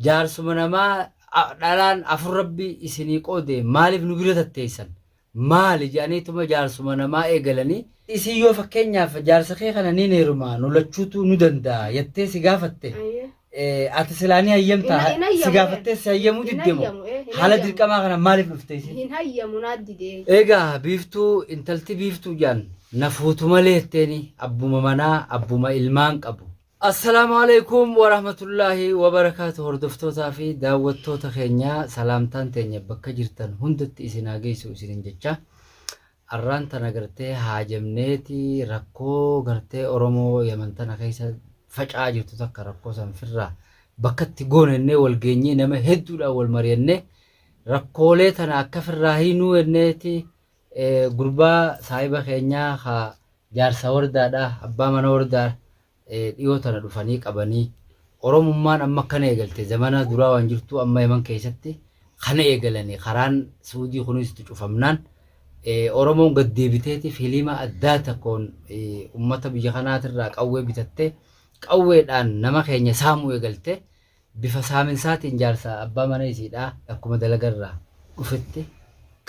Jaarsuma namaa a- dhalaan afur rabbi isinii qoode maaliif nu bira tatteessan? Maali jedhaniituma jaarsuma namaa eegalanii isin yoo fakkeenyaaf jaarsa kee kana niin heerumaa nu lachuutu nu danda'a jettee si gaafatte Ayyee. eh, ati silaa ni hayyamtaa? Hin- hin hayyamu, si gaafattee si hayyamuu hin didde moo? hayyamu, eh, hin Haala hayyamu. dirqamaa kana maaliif dhufte isin? Hin hayyamu naa didee. Egaa biiftuu intalti biiftuu jaan na fuutu malee jetteeni abbuma manaa abbuma ilmaan qabu Asalamualeykum warahmatullahi wabarakatu hordoftootaa fi daawwattoota keenya salaamtaan teenya bakka jirtan hundatti isin haa geessu isinin jecha arraan tana gartee haajamneeti rakkoo gartee oromoo yaman tana keessa faca'aa jirtu takka rakkoo san firraa bakkatti goonennee wal geenyee nama hedduudhaan wal mari'annee rakkoolee tana akka firraa hiinuu enneeti Gurbaa saahiba keenyaa ka jaarsa wardaadha abbaa mana wardaa dhiyoo tana dhufanii qabanii. Oromummaan amma akkana eegalte zamana duraa waan jirtuu amma yaman keessatti kana eegalanii karaan suudii kunis itti cufamnaan oromoon gad deebiteeti filiima addaa takkoon ummata biyya kanaatirraa qawwee bitattee qawweedhaan nama keenya saamuu eegalte Bifa saaminsaatiin jaarsa abbaa mana isiidhaa akkuma dalaga irraa dhufetti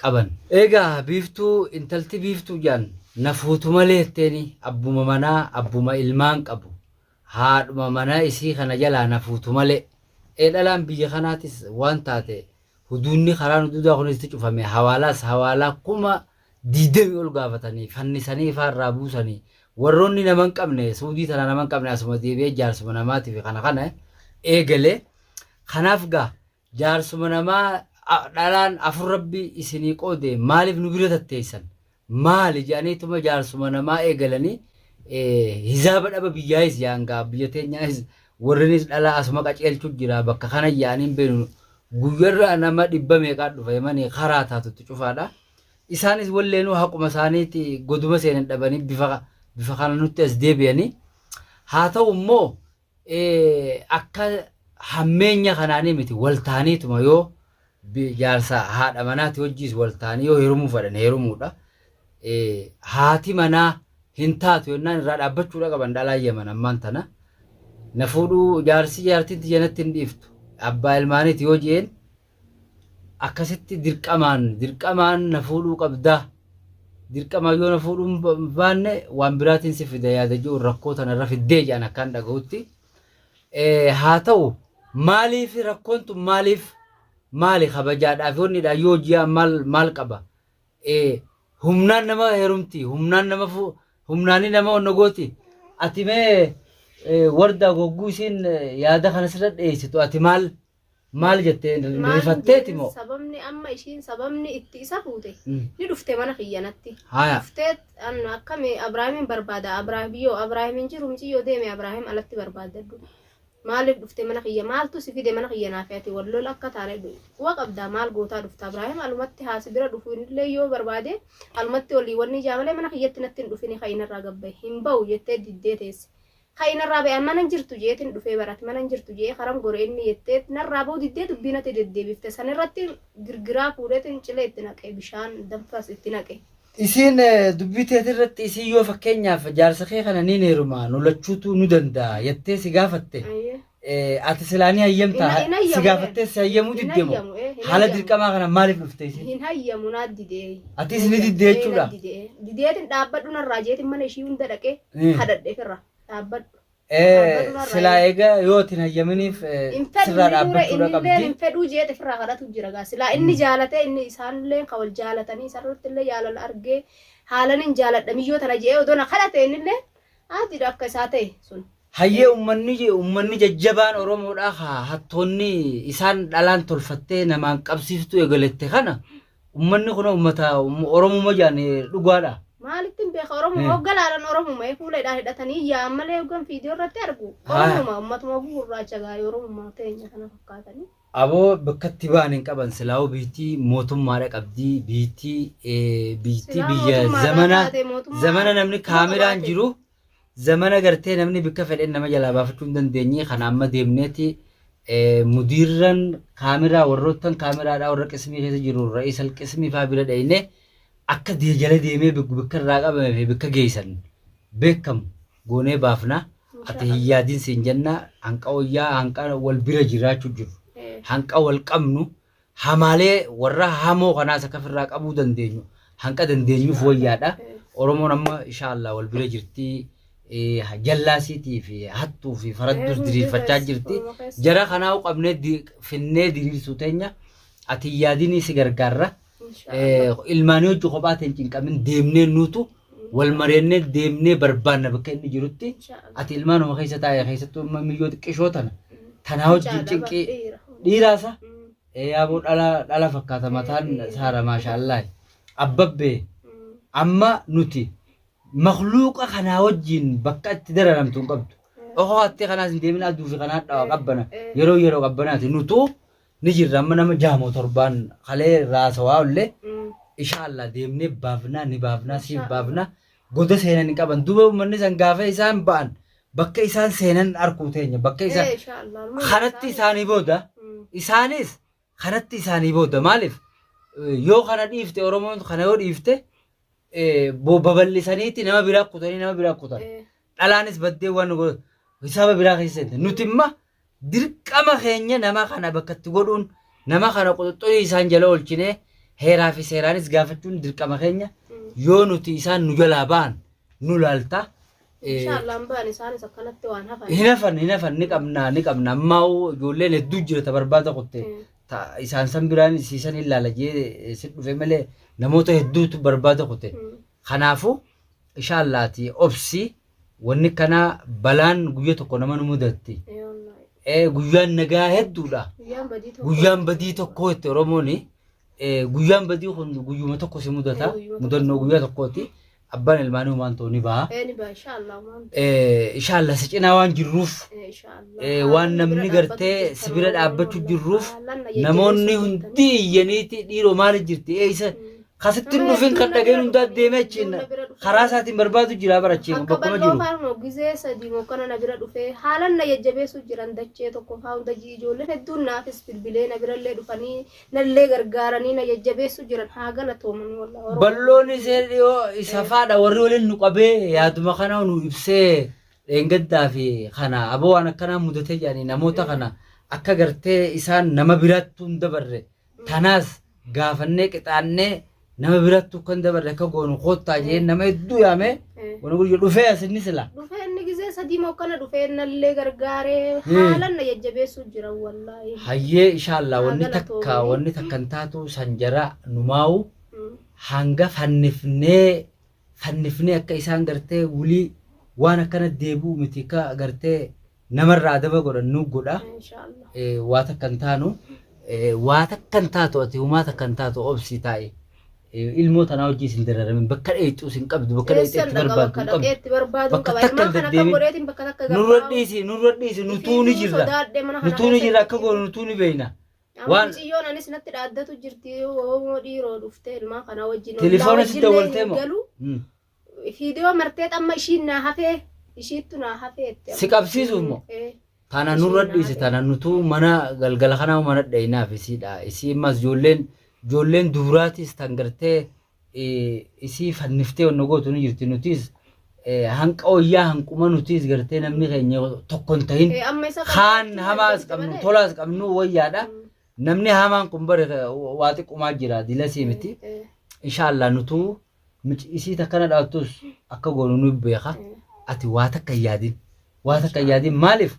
qaban. Eegaa Biiftuu intalti Biiftuu jedhan na fuutu malee jetteeni abbuma manaa abbuma ilmaan qabu haadhuma mana isii kana jalaa na fuutu malee ee dhalaan biyya kanaatis waan taate huduunni karaan huduudaa kunis itti cufame hawaalaas hawaalaa kuma 20 ol gaafatanii fannisanii faa irraa buusanii warroonni nama hin qabne suudii tana nama hin qabne asuma deebi'ee jaarsuma namaatiif kana kana eegale kanaaf gaa jaarsuma namaa a- dhalaan afur rabbi isinii qoode maaliif nu bira tatteessan maali jedhaniituma jaarsuma namaa eegalanii eh, hizaaba dhaba biyyaayis yaa'an gaa biyya teenyaayis warrinis dhalaa asuma qaceelchuu jira bakka kana yaa'aniin beenu guyyarraa nama dhibba meeqaa dhufa himanii karaa taatutti cufaadha. Isaanis walleenuu haquma isaaniiti goduma seenan dhabanii bifa bifa kana nutti as deebi'anii. Haa ta'u immoo eh, akka hammeenya kanaanii miti wal taaniituma yoo bi- jaarsa haadha manaati wajjiis wal taanii yoo heerumuu fedhan heerumuudha. Eh, Haati manaa hin taatu yennaan irraa dhaabbachuudha qaban dhalaa yaman ammaan tana. Na fuudhuu jaarsi jaartiin tiyya natti hin dhiiftu. Abbaa ilmaaniiti yoo je'een akkasitti dirqamaan dirqamaan na fuudhuu qabda dirqamaan yoo na fuudhuu hin ba- baanne waan biraatiin si fida yaada jiru rakkoo tana irra fiddee jedhan akkaan dhagahutti Eh, haa ta'u maaliif rakkoon tun maaliif maali kabajaadhaaf yoonnidha yoo ji'a maal maal qaba Eh, humnaan nama heerumti humnaan nama fu humnaanii nama onna gooti ati mee eh, wardaa gogguu isiin eh, yaada kana sirra dhiyeessitu ati maal Maal jettee hin hin Maal hin rifatteeti jedhin moo? sababni amma ishiin sababni itti isa fuute Mm. ni dhufte mana kiyyanatti. Haya. Dhufteet an akkami Abraahimin barbaada Abraahim yoo Abraahim hin jiru miciyyoo deeme Abraahim alatti barbaaddadhu. Maaliif dhufte mana kiyya maaltu si fide mana kiyya naaf ati wal lola akka taane quba qabdaa maal gootaa dhufta Abraahim alumatti haasi bira dhufu illee yoo barbaade alumatti olii wanni ijaa malee mana kiyyatti natti hin dhufini ka'inarraa gabbaye hin ba'u jettee diddee teesse. Ka'i narraa ba'i an mana hin jirtu je'eetin dhufee bar ati mana hin jirtu je'ee karam gore inni jettee narraa ba'uu diddee dubbii natti deddeebifte san irratti girgiraa fuudheetin cilee itti naqe bishaan danfas itti naqe. Isiin dubbii teeti irratti isiin yoo fakkeenyaaf jaarsa kee kana niin heerumaa nu lachuutuu nu danda'a jettee si gaafatte Ayyee. Ati silaa ni hayyamta Hin- hin hayyamu, si gaafattee si hayyamuu hin didde moo hayyamu, eh, hin haala hayyamu. dirqamaa kana maaliif dhufte isin? hin hayyamu naa didee Atis ni diddee jechuudha? dideetin dhaabbadhu narraa jeetin mana ishii hunda dhaqee Mm. kadhadheef irraa dhaabbadhu Eh, Dhaabbachuudhaan Silaa raayyaa. eega yoo itti hin hayyaminiif eh, hin fedhu sirraa inni dura dhaabbachuudha inni illee hin qabdi. fedhuu jeet ofirraa kadhatu jira gaa silaa inni jaalatee inni isaan illee kan wal jaalatanii isaan irratti illee jaalala argee haalan hin jaaladha miyyoo tana je'ee odoo na kadhate inni illee haatiidha akka isaa ta'e sun Hayyee ummanni ummanni jajjabaan Oromoodhaa ka hattoonni isaan dhalaan tolfattee namaan qabsiiftuu egalette kana ummanni kunoo ummata Oromuma jaan dhugaadha. Maalittiin beeka Oromoo hogga laalan Oromuma fuula hidhaa hidhatanii yaa'an malee hoggan fiidiyoo irratti argu Oromuma ummatuma oguu gurraacha gaa'ee Oromuma teenya kana fakkaatanii. Aboo bakkatti ba'an hin qaban silaa'uu biittii mootummaadha qabdii biittii biittii biyya zamana zamana namni kaameraan jiru Zamana gartee namni bikka fedhen nama jalaa baafachuu hin dandeenye kana amma deemneeti mudiirran kaamiraa warroottan kaamiraadhaa warra qismii keessa jiru ra'is al qismii faa bira dhayne akka dee jala deemee bikka irraa qabame fi bikka geessan beekamu goonee baafna ati hin yaadin siin jenna hanqa wayyaa hanqa wal bira jiraachuu jiru hanqa wal qabnu Hamaalee warra hamoo kanaas akka firraa qabuu dandeenyu hanqa dandeenyuuf wayyaadha. Oromoon amma ishaa Allah wal bira jirti. Jallaasiitii fi hattuu fi faradduus diriirfachaa jirti. Jara kanaa qabnee finnee diriirsuu teenya ati yaadinii si gargaarra. Ilmaanii hojii kophaa ta'e hin cinqamin deemnee nuutu wal mari'annee deemnee barbaanna bakka inni jirutti Inshaallah. ati ilmaanuma keessa taa'e keessattuu amma miyyoo xiqqishoo tana tanaa wajjin Inshaallah, cinqii dhiira. dhiiraasa Mm, ee yaaboo dhala dhala fakkaata mataan saara maashaallah abbabbee mm, amma nuti makluuqa kanaa wajjin bakka itti dararamtu hin qabdu. Okoo hattee kanaas hin deemin aduu fi kanaa dhawa qabbana yeroo yeroo qabbanaati nutuu ni jirra amma nama jaamoo torbaan kalee raasawaa ollee Mm. ishaallaa deemnee baafnaa ni baafnaa siif Inshaa baafnaa goda seenan hin qaban duuba uummanni san gaafa isaan ba'an bakka isaan seenan arkuu teenya bakka isaan Eh, inshaa Allah. Armaan kanatti isaa- isaanii booda Mm. isaanis kanatti isaanii booda maaliif eh, yoo kana dhiifte oromoon kana yoo dhiifte eh, bo- babal'isaniiti nama biraa kutanii nama biraa kutan Eh, dhalaanis baddee waan godhu hisaaba biraa keessa seente nuti imma Dirqama keenya nama kana bakka itti godhuun nama kana quxuxxurii isaan jala oolchinee heeraa fi seeraanis gaafachuun dirqama keenya yoo nuti isaan nu jalaa ba'an nu laalta. Eh, Inshaallah hin ba'an isaanis akkanatti waan hafan. Hin hafan hin hafan ni qabna ni qabna ammaa ijoolleen hedduu jira ta barbaada kutte Mm. ta isaan san biraan siisan hin laala jee eh, si dhufe malee namoota hedduutu barbaada kutte. Mm. Kanaafuu inshaallah ati obsi Wanni kanaa balaan guyya tokko nama nu mudatti. Ee wallaahi. Eh, Guyyaan nagaa hedduudha. Guyyaan badii tokko. Guyyaan badii tokkoo itti Oromoon eh, guyyaan badii kun guyyuma tokko si mudata. Eh, guyyuma tokko. Mudannoo guyyaa tokkooti. Abbaan ilmaanii humaan ta'u ni baha. Ee ni ba'a insha Allah waan. Eh, Inshaallah si cinaa waan jirruuf Ee insha Allah. eh, waan namni gartee si bira dhaabbachuu jirruuf namoonni hundi iyyaniiti dhiiroo maali jirti eeysa Kasitti hin dhufin kan dhageen hundaa deemee achiin karaa isaatiin barbaadu jira bara achiin Akka bakkuma bal'oo jiru. faarmoo gizee sadii mokkana na bira dhufee haalan na jajjabeessuu jiran dachee tokko faa hunda ji- ijoolleen hedduun naafis bilbilee na birallee dhufanii nallee gargaaranii na jajjabeessuu jiran haa galatoomanii wallah Oromoo. Balloon isee dhiyoo isa faadha warri waliin nu qabee yaaduma kana nu ibsee dheengaddaa fi kana aboo waan akkanaa mudatee jedhanii namoota kana akka gartee isaan nama biraatti hin dabarre Tanaas gaafannee qixaannee nama birattu akka hin dabarre akka goonu koottaa jeen nama hedduu yaamee wani guyya dhufee as inni sila. Dhufee inni gisee sadii moo akkana dhufee nallee gargaaree haalan na jajjabeessuu jira wallaahi. Hayyee ishaallah Haa wanni takka galatoomi. wanni takka hin taatu san jara numaawu Mm. hanga fannifnee fannifnee akka isaan gartee wulii waan akkana deebi'u miti akka gartee namarraa adaba godhan nu godha Inshaallah. Eh, waa takka hin taanu Eh, waa takka hin taatu ati humaa takka hin taatu obsii taa'i Eh, ilmoo tanaa hojii isin dararamin bakka dheeyxuus hin qabdu bakka dheeyxee Eessan itti dhaqa barbaaddu bakka hin qabdu dhaqeetti barbaaduu Bakka qaba. takka Ilmaan kana kan deddeebiin. godheetiin bakka takka nurra gabbaa'u. dhiisi nurra dhiisi nutuu ni Isiituu jirra sodaadhee mana nutuu ni kanaa jirra akka keessatti. goonu nutuu ni beeyna Amma Waan- mucayyoon anis natti dhaaddatu jirti oomoo dhiiroo dhuftee ilmaa kana wajjin Telefoona ollaa sitti wajjin wal illee hin ta'e moo? galu. Mm. Fiidiyoo martee amma ishiin naa hafee ishiittu naa hafee itti amma. Si qabsiisuuf moo? Eh, Tana Ishii nurra naa dhiise ta'e. tana nutuu mana galgala kanaa mana dhayinaaf isiidha. Isii immas ijoolleen ijoolleen dubraatis tan gartee isii fanniftee wanna gootu ni jirti nutiis hanqa wayyaa hanquma nutiis gartee namni keenya tokko hin tahin Eh, amma isa kaan qabachuu hamaas dandeessi qabnu malee. tolaas qabnu wayyaadha namni hamaan kun bare waa xiqqumaa jira dilasii miti inshaallah nutuu mici isii takkana dhaattus akka goonu nu beeka ati waa takka hin yaadin waa takka hin yaadin maaliif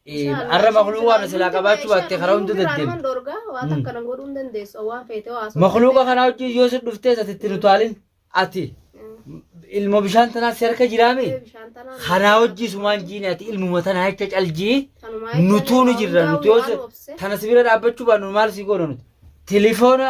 Inshallah, Arra isheen makluuqa kana silaa hunduma qabaachuu baatte ishee karaa hunda hunduma irraa deddeemti. dhorga waan Mm. takka nan godhuu hin dandeessu waan feete waa sochii Makluuqa feete. kanaa wajjin yoo si dhuftee ati itti nu taalin ati Mm. ilma bishaan tanaa si harka jiraame Ee, bishaan tanaan kanaa nu- wajjin sumaan jiine ati ilmuma tanaa jecha caljii Tanumaa jecha nutuu nu waan jirra hundaa nuti yoo waan si- obse. tana si bira dhaabbachuu baannu maal si goona nuti tilifoona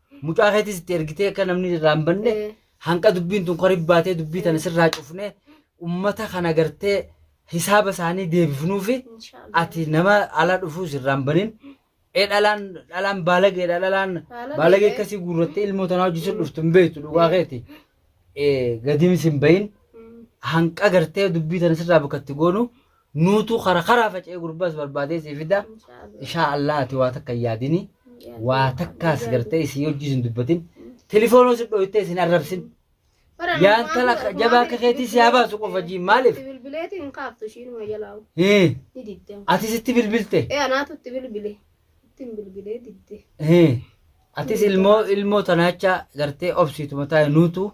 Mucaa keetis itti ergitee akka namni irraa hin banne Eh. hanqa dubbiin tun qorib baatee dubbii tana sirraa cufnee ummata kana gartee hisaaba isaanii deebifnuufi Inshaallah. ati nama ala dhufuu sirraa hin banin. Ee dhalaan dhalaan baalageedha dhalaan Baalageedha. baalagee akkasii guurrattee ilmoo tanaa hojjechuun dhuftu hin beektu dhugaa keeti. Ee gadiin sin bahin Mm. hanqa gartee dubbii tana sirraa bakka itti goonu nuutu kara karaa faca'ee gurbaas barbaadee si fida ishaa allaa ati waa takka hin yaadini waa takkaas gartee isin hojii isin dubbatin telefoonoo isin dhooytee isin arrabsin yaan tala jabaa akka keetii si haa baasu qofa jiin maaliif Bilbileetiin hin kaaftu ishiin ma jalaawu. Hii, Ni didde. ati sitti bilbilte Ee anaatu itti bilbile. Ittiin bilbilee didde. Hii, atis ilmoo ilmoo tanaacha gartee obsiituma taa'e nuutu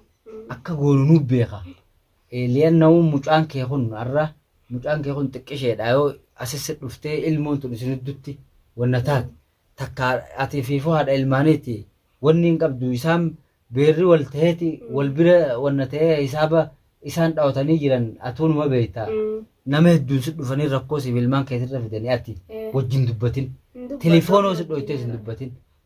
akka goonu nu beeka Eeliyan namu mucaan kee kun arra mucaan kee kun xiqqisheedha yoo asissi dhuftee ilmoon tun isin hiddutti wanna taate takka ati fiifuu haadha ilmaaniiti wanni hin qabdu isaan beerri wal taheeti wal bira wanna tahee hisaaba isaan dhawatanii jiran atuu numa beeyta nama hedduun si dhufanii rakkoo siif ilmaan keetirra fidanii ati wajjin dubbatin telefoonoo si dhooytee sin dubbatin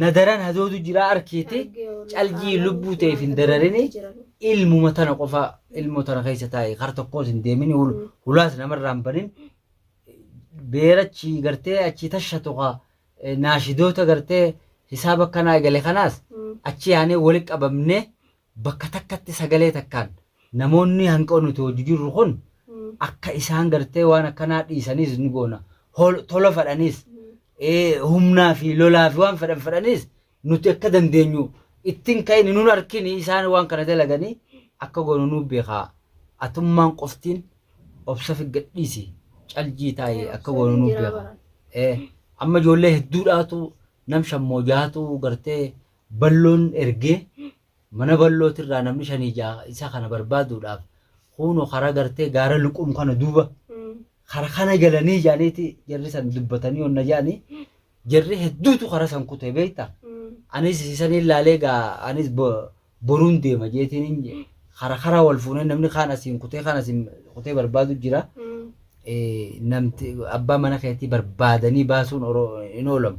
na daran hadoodu jira arkeete calgii lubbuu ta'eef hin dararini ilmuma tana qofa ilmoo tana keessa taa'e kar tokkoos hin deemini hul- hulaas namarraa hin banin beerachi gartee achi tasha tuqa eh, naashidoota gartee hisaaba akkanaa egale kanaas achi yaanee wali qabamne bakka takkatti sagalee takkaan namoonni hanqoo nuti hojju jirru kun akka isaan gartee waan akkanaa dhiisaniis ni goona. Hol- Tola fedhaniis eh, humnaa fi lolaa fi waan fedhan fedhaniis nuti akka dandeenyu ittiin ka'in nun harkini isaan waan kana dalaganii akka goonu nu beekaa. Atummaan qoftiin obsa fi gadhiisi caljii taa'ee akka goonu nu beekaa. Eh, amma ijoollee hedduudhaatu nam shammoo jaatu gartee Balloon ergee mana ballootirraa namni shanii ja'a isa kana barbaaduudhaaf kuuno karaa gartee gaara luqum kana duuba kara kana galanii jaaniiti jarri san dubbatanii onna jaani jarri hedduutu kara san kutee beekta anis isan ilaalee gaa anis bo- boruun deema jeetiin hin je- kara kara wal fuunee namni kaan asiin kutee kaan asiin kutee barbaadu jira Eh, namti abbaa mana keetii barbaadanii baasuun oro- hin oolamu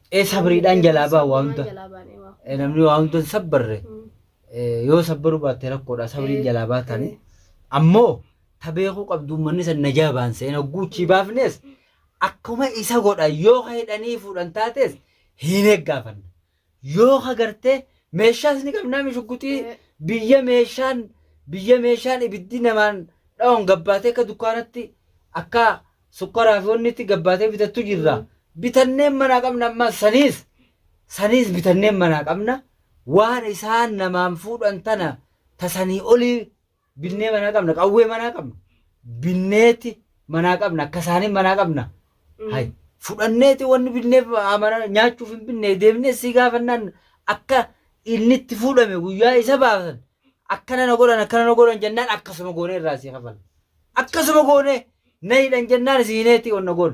Ee sabriidhaan jalaa ba'a waa hunda. Jalaa baanee waa. Eh, namni waa hunda hin sabbarre eh, yoo sabbaruu baatte rakkoodha sabriin Eh, jalaa baatani eh. ammoo ta beekuu qabdu uummanni san najaa baan seen hogguuchii baafnes akkuma isa godha yoo ka hidhanii fuudhan taates hin eeggaafanna yoo ka gartee meeshaas ni qabnaa mishugguxii Eh. biyya meeshaan biyya meeshaan ibiddi namaan dha'oon gabbaatee akka dukkaanatti akka Sukkaraa fi wanni itti gabbaatee bitattu jirra. Bitanneen manaa qabna ammaa saniis saniis bitanneen manaa qabna. Waan isaan namaan fuudhan tana tasanii olii binnee manaa qabna qawwee manaa qabna. Binneeti manaa qabna akka isaanii manaa qabna. Hay fudhanneeti wanni binneef amana nyaachuuf hin binne deemnee si gaafannaan akka inni itti fuudhame guyyaa isa baasan akkana na godhan akkana na godhan jennaan akkasuma goonee irraa si kafalla. Akkasuma goonee na hidhan jennaan si hineeti onna goon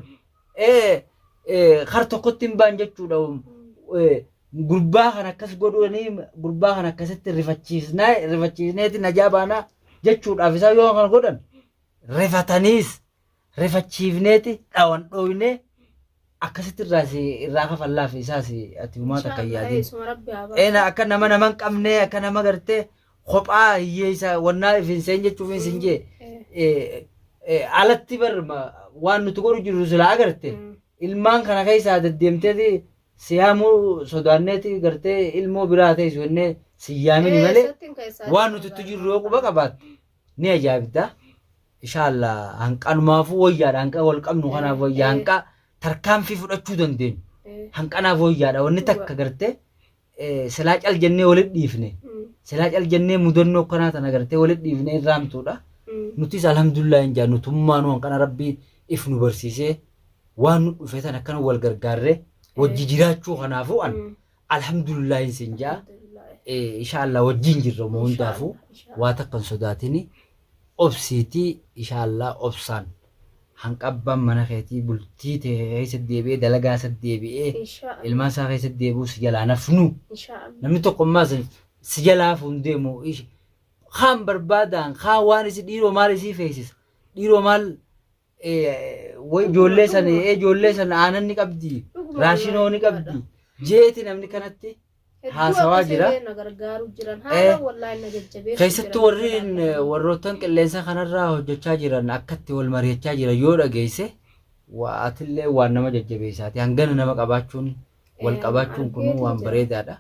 kar tokkotti hin baan jechuudha gurbaa kan akkas godhanii gurbaa kan akkasitti rifachiisnaa rifachiisneeti najaa baanaa jechuudhaaf isaa yoo kan godhan rifataniis rifachiifneeti dhawan dhooynee akkasitti irraa si irraa kafallaaf isaas ati humaa takka hin yaadin. Isuma rabbi haa Eena baasu. akka nama nama hin qabne akka nama gartee kophaa hiyyeessa wannaa ifin seen jechuuf hin sin jee Eh, eh, alatti bar ma- waan nuti godhu jirru silaa agarte mm. ilmaan kana keessaa deddeemteeti siyaamuu sodaanneeti gartee ilmoo biraa ta'e suwannee siyyaamini malee Eessatti hin keessaa waan jiru nuti itti jirru yoo quba qabaatte ni ajaa'ibda inshaalla hanqanumaafuu wayyaadha hanqa wal qabnu kanaaf wayyaa hanqa tarkaanfii fudhachuu dandeenyu hanqanaaf wayyaadha wanni takka gartee eh, silaa cal jennee walit dhiifne silaa cal jennee mudannoo kanaa tana gartee walit dhiifne irraantuudha nutis alhamdulillah hin jaa nutummaanuu hanqana rabbii if nu barsiisee waan nu dhufe tan akkana wal gargaarree wajji jiraachuu kanaafuu an Alhamdulillahi sin jaa Alhamdulillah. ishaalla wajjin jirra moo hundaafu Inshallah, inshallah. waa takkan sodaatini obsiiti ishaalla obsaan hanqabbaan mana keetii bultii tee keessa deebi'ee dalagaa isa deebi'ee Inshallah. ilmaan isaa keessa deebi'uu si jalaa nafnu Inshallah. namni tokko ammaa sin si jalaa fuun deemu ish kaan barbaadaan kaan waan isi dhiiroo maal isii feesisa dhiiroo maal Way ijoollee sana ee ijoollee sana aanan ni qabdi raashinoo ni qabdi jeeti namni kanatti haasawaa jira. Keessattuu warri warroottan qilleensa kanarraa hojjechaa jiran akkatti wal mari'achaa jiran yoo dhageesse waatillee waan nama jajjabeessaati hangana nama qabaachuun wal qabaachuun kun waan bareedaadha.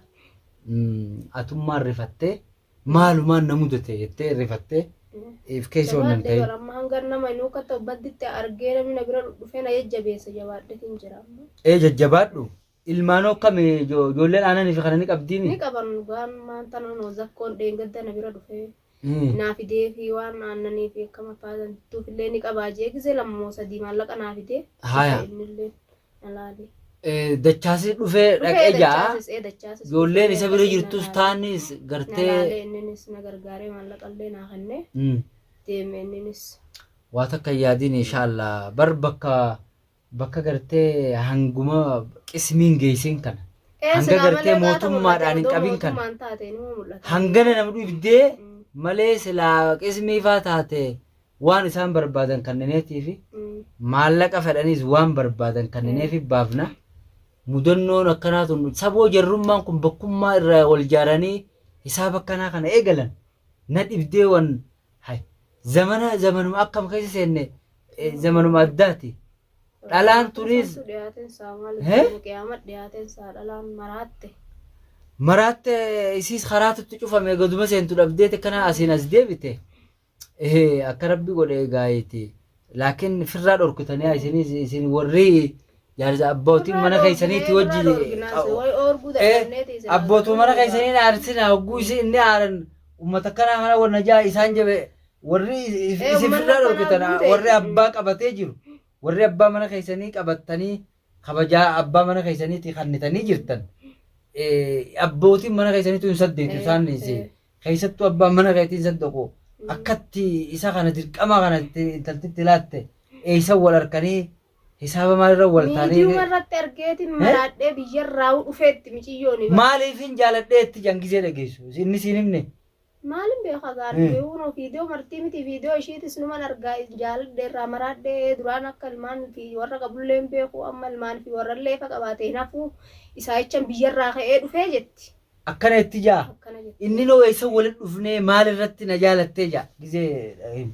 Atummaan rifattee Maalumaan na mudate jettee rifattee if keessa waan hin Jabaadhee ta'in. bara amma hangan nama hin huukkata obbadditti argee namni na bira dhufee na jajjabeessa jabaadheetiin jira amma. Ee jajjabaadhu. Ilmaanoo akkami jo- ijoolleen aananii fi kana ni qabdiimi? Ni qaban dhugaan maanta nama zakkoon dheengadda na bira dhufee Hmm. naa fidee fi waan aannanii fi akkama faatantuuf illee ni qabaa jee gisee lama moo sadii maallaqa naa fidee. Haaya. Innillee. Alaali. Eh, Dachaasis dhufee Dhufee dhaqee ja'a. dachaasis ee dachaasis. Ijoolleen isa bira jirtus taanis Nalaalee gartee inninis na gargaaree maallaqa illee naa kennee Mm. deeme inninis. waa takka hin yaadiin inshaallah bar bakka bakka gartee hanguma qismiin geessin kana Ee, Hanga silaa gartee malee laata mootummaadhaan hin mul'ate, qabin odoo kana. mootummaan taate inuma mul'ata. hangana nama dhibdee Mm. malee silaa qismiifaa taate Waan isaan barbaadan kannineetiifi maallaqa fedhaniis waan barbaadan kannineefi baafna. Mudannoon akkanaa tun saboo jarrummaan kun bakkummaa irraa wal jaaranii hisaaba akkanaa kana eegalan na dhibdee wan hay zamana zamanuma akkam keessa seenne eh, zamanuma addaati. Dhalaan turiis Santu dhiyaateen isaa maal Hee? jedhama qiyaama dhiyaateen isaa dhalaan maraatte. maraatte isiis karaatutti cufame gaduma seentu dhabdeete kana asiin as deebite Ehe akka rabbi godhe gaayiti laakin firraa dhorkitanii isinis isin warri jaarsa abbootiin mana keessaniitti wajji abbootu mana keessanii na arsina hogguu isin inni aaran ummata kanaa kana wanna jaa isaan jabe warri isin firraa dhorkitan warri abbaa qabatee jiru warri abbaa mana keessanii qabattanii kabajaa abbaa mana keessaniitii kannitanii jirtan eh, abbootiin mana keessaniitu hin saddeetu Eh, isaan dhiisee eh. keessattuu abbaan mana keetii hin saddaqu akkatti isa kana dirqamaa kana itti intaltitti laatte eeysan wal harkanii hisaaba maalirra wal Miidiyuma taanii irratti argeetiin maraadhee biyyarraa dhufeetti miciyyoon. maaliif hin jaaladhee itti jangisee dhageessu inni siin himne Maalin beeka gaa ani mee uunoo viidiyoo martii miti viidiyoo ishiitis numan argaa jaaladhe irraa maraadhe duraan akka ilmaan fi warra qabullee hin beeku amma ilmaan fi warrallee ifa qabaate hin hafuu isaayichan biyyarraa ka'ee dhufee jetti. Akkana jetti jaa. Akkana jetti. Inninoo eessan walitti dhufnee maal irratti na jaalattee jaa gizee him.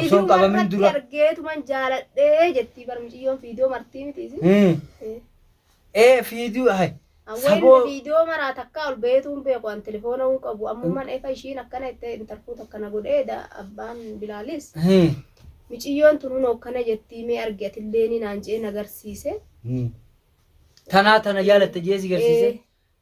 Osoon qabamin dura. argeetuman jaaladhee jettii bar mucayyoon fiidoo martii miti isin. Hmm. Eh. Ee fiiduu hay. Saboo- Saboo viidiyoo maraa takkaa ol beetuun beeku an telefoona hin qabu ammuman efa ishiin akkana itti intarfuut akkana godhee da abbaan bilaalis Hmm. miciyyoon tunuun akkana jettii mee argi atillee ni naan jee nagarsiise. Hmm. Tanaa tana jaalatte jeesi garsiise.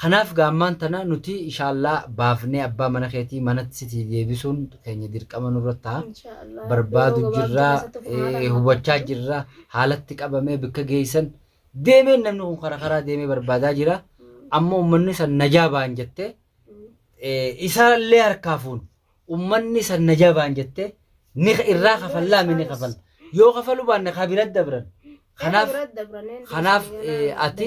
Kanaaf gaa ammaan tana nuti ishaallaa baafnee abbaa mana keetii manatti sitii deebisuun keenya dirqama nurra taha. Inshaa Allah. Yeroo barbaadu gabaabduu jirra keessatti kun haala eh, nama hubachaa qabachuu. jirra haalatti qabamee bakka geessan deemeen namni kun karaa karaa deemee barbaadaa jira amma ummanni san najaa ba'an jettee eh, isaallee harkaa fuun ummanni san najaa ba'an jettee ni irraa kafallaa mi ni kafalla yoo kafalu baanne kaa bira dabran kanaaf kanaaf ati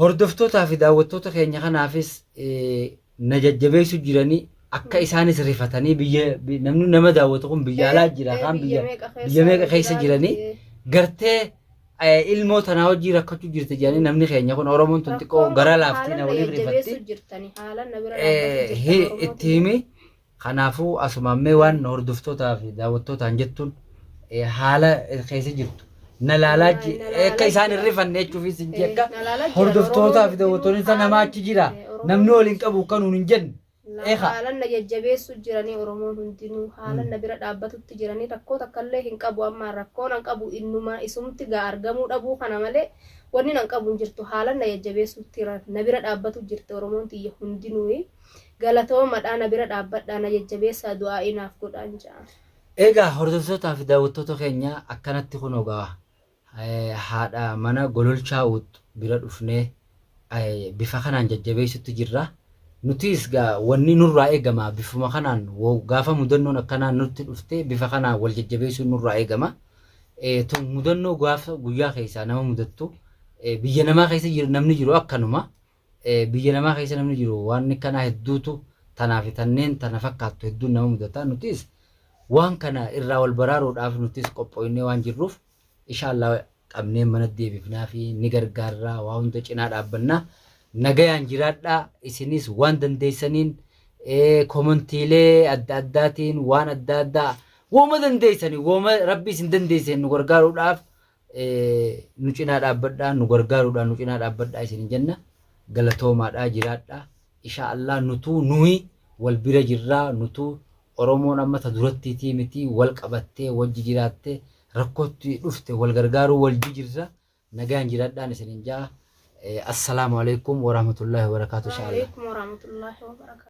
hordoftootaa fi daawwattoota keenya kanaafis na jajjabeessu jiranii akka isaanis rifatanii biyya namni nama daawwatu kun biyya alaa jira kaan biyya biyya meeqa keessa jiranii gartee ilmoo tanaa hojii rakkachuu jirti jedhanii namni keenya kun Oromoon tun xiqqoo gara laaftii na waliin rifatti itti himi kanaafuu asumaammee waan hordoftootaa fi daawwattootaan jettuun haala keessa jirtu na laalaa akka isaan hin rifanne jechuufi sin jedha hordoftootaa fi daawwattoonni isa namaa achi jira namni waliin qabu kanuun hin jenne Naa Eekaa. haalan na jajjabeessu jiranii oromoon hundinuu haalan na bira dhaabbatutti jiranii rakkoo takkallee hin qabu ammaan rakkoon an qabu innuma isumti gaa argamuu dhabuu kana malee wannin an qabu hin jirtu haalan na jajjabeessutti ra- na bira dhaabbatu jirti oromoon tiyya hundinuuyi galatoomadha na bira dhaabbadhaa na jajjabeessaa du'aa'ii naaf godhaan ja'a. Egaa hordoftootaa fi daawwattoota keenya akkanatti kunoo gaa haadha mana gololchaa uuttu bira dhufnee bifa kanaan jajjabeessutti jirra. Nutiis gaa wanni nurraa eegama bifuma kanaan gaafa mudannoon akkanaa nutti dhufte bifa kanaan wal jajjabeessuun nurraa eegama. Tun mudannoo gaafa guyyaa keessaa nama mudattu biyya namaa keessa namni jiru akkanuma. Biyya namaa keessa namni jiru waan akkanaa hedduutu tanaa fi tanneen tana fakkaattu hedduun nama mudata. Nutis waan kana irraa wal baraaruudhaaf nutis qophooynee waan jirruuf ishaa Allah qabnee mana deebifnaa fi ni gargaarraa waa hunda cinaa dhaabbannaa. Nagayaan jiraadhaa isinis waan dandeessaniin komantiilee adda addaatiin waan adda addaa wooma dandeessani wooma rabbi isin dandeesseen nu gargaaruudhaaf nu cinaa dhaabbadhaa nu gargaaruudhaan nu cinaa dhaabbadhaa isin jenna galatoomaadhaa jiraadhaa ishaa allaa nutuu nuhi wal bira jirraa nutuu oromoon amma ta durattiitii mitii wal qabattee wajji jiraattee rakkootti dhufte wal gargaaruu wal jijirra nagaan jiraadhaan isin jaa assalaamu alaikum warahmatullaahi wabarakaatu ishaa allaa Waalaikum warahmatullahi wabarakatuh.